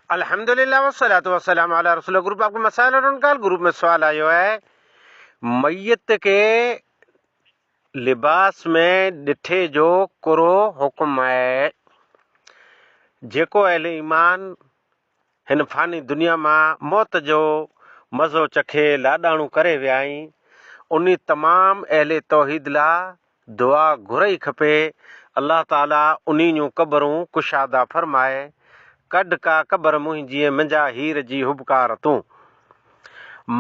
الحمدللہ والصلوۃ والسلام علی رسول گروپ آپ کو مسائل اور انکال گروپ میں سوال آيو آهي ميت کي لباس ۾ ڏٺي جو ڪھڙو حڪم آهي جيڪو اهل ايمان هن فاني دنيا مان موت جو مزو چکي لاڏاڻو ڪري ويا آهن انھي تمام اهل توحيد لا دعا گهرئي کپي الله تعالي انهي جون قبرون ڪشاده فرمائي ڪڍ ڪا قبر منهنجي منجا هير جي هبڪار تون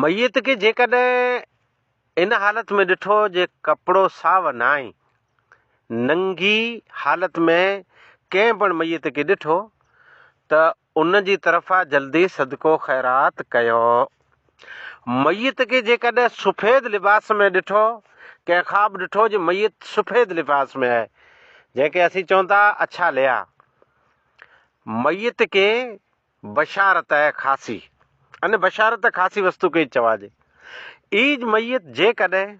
ميت کي جيڪڏهن ان حالت ۾ ڏٺو جي ڪپڙو ساو ناهي ننگي حالت ۾ ڪنهن پڻ ميت کي ڏٺو ته ان جي طرفان جلدي صدقو خيرات ڪيو. ميت کي جيڪڏهن سفيد لباس ۾ ڏٺو، ڪنهن خواب ڏٺو جو ميت سفيد لباس ۾ آهي، جنهن کي اسين چون ٿا اڇا ليا. ميت کي بشارت آهي خاصي. ان بشارت خاصي وستو کي چوائجي. ايج ميت جيڪڏهن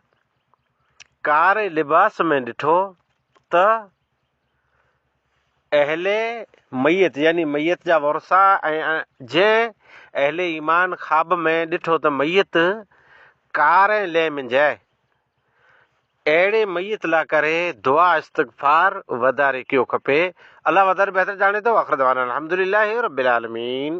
ڪاري لباس ۾ ڏٺو ته اهل ميت يعني ميت جا ورثا ۽ جنهن اهل ايمان خواب ۾ ڏٺو ته ميت ڪار ۽ لئه منجهه آهي، اهڙي ميت لا ڪري دعا استغفار وڌاري ڪيو کپي، الله وڌاري بهتر ڄاڻي ٿو، واخر دعوانا الحمدلله رب العالمين.